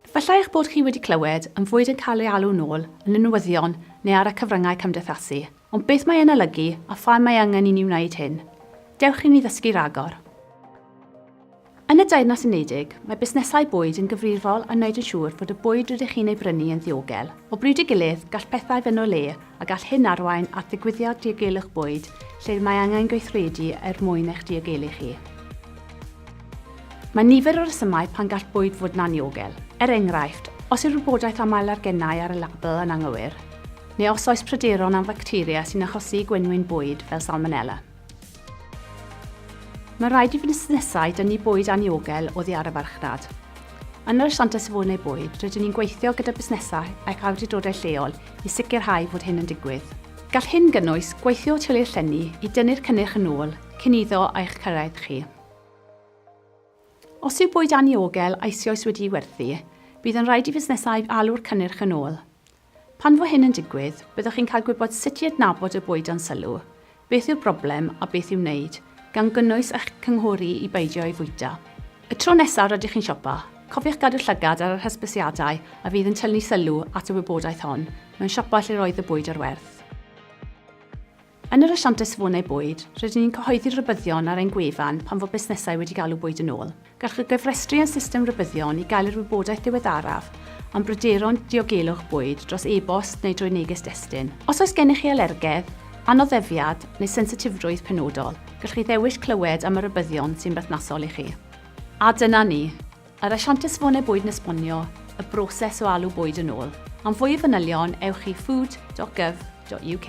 Efallai eich bod chi wedi clywed am fwyd yn cael ei alw'n ôl yn y newyddion neu ar y cyfryngau cymdeithasu, ond beth mae e'n olygu a pham mae angen i ni wneud hyn? Dewch i ni ddysgu rhagor! Yn y Deyrnas Unedig, mae busnesau bwyd yn gyfrifol am wneud yn siŵr fod y bwyd rydych chi'n ei brynu yn ddiogel. O bryd i'w gilydd, gall pethau fynd o le, a gall hyn arwain at ddigwyddiad diogelwch bwyd lle mae angen gweithredu er mwyn eich diogelu chi. Mae nifer o resymau pan gall bwyd fod yn anniogel. Er enghraifft, os yw'r wybodaeth am alergenau ar y label yn anghywir, neu os oes pryderon am facteria sy'n achosi i gwenwyn bwyd, fel salmonella. Mae rhaid i fusnesau dynnu bwyd anniogel oddi ar y farchnad. Yn yr Asiantaeth Safonau Bwyd, rydyn ni'n gweithio gyda busnesau ac awdurdodau lleol i sicrhau fod hyn yn digwydd. Gall hyn gynnwys gweithio o tul eich llenni i dynnu'r cynnyrch yn ôl cyn iddo eich cyrraedd chi. Os yw bwyd anniogel eisioes wedi'i werthu, bydd yn rhaid i fusnesau alw'r cynnyrch yn ôl. Pan fo hyn yn digwydd, byddwch chi'n cael gwybod sut i adnabod y bwyd dan sylw, beth yw'r broblem a beth i'w wneud, gan gynnwys eich cynghori i beidio ei fwyta. Y tro nesaf rydych chi'n siopa, cofiwch gadw llygad ar yr hysbysiadau a fydd yn tynnu sylw at y wybodaeth hon mewn siopa lle roedd y bwyd ar werth. Yn yr asiantaeth safonau bwyd, rydyn ni'n cyhoeddi'r rhybuddion ar ein gwefan pan fo busnesau wedi galw bwyd yn ôl. Gallwch chi gyfrestru â'n system rhybuddion i gael yr wybodaeth ddiweddaraf am bryderon diogelwch bwyd dros e-bost neu drwy neges destun. Os oes gennych chi alergedd, anoddefiad neu sensitifrwydd penodol, gallwch chi ddewis clywed am y rhybuddion sy'n berthnasol i chi. A dyna ni. Yr asiantaeth Safonau Bwyd yn esbonio y broses o alw bwyd yn ôl. Am fwy o fanylion, ewch i food.gov.uk.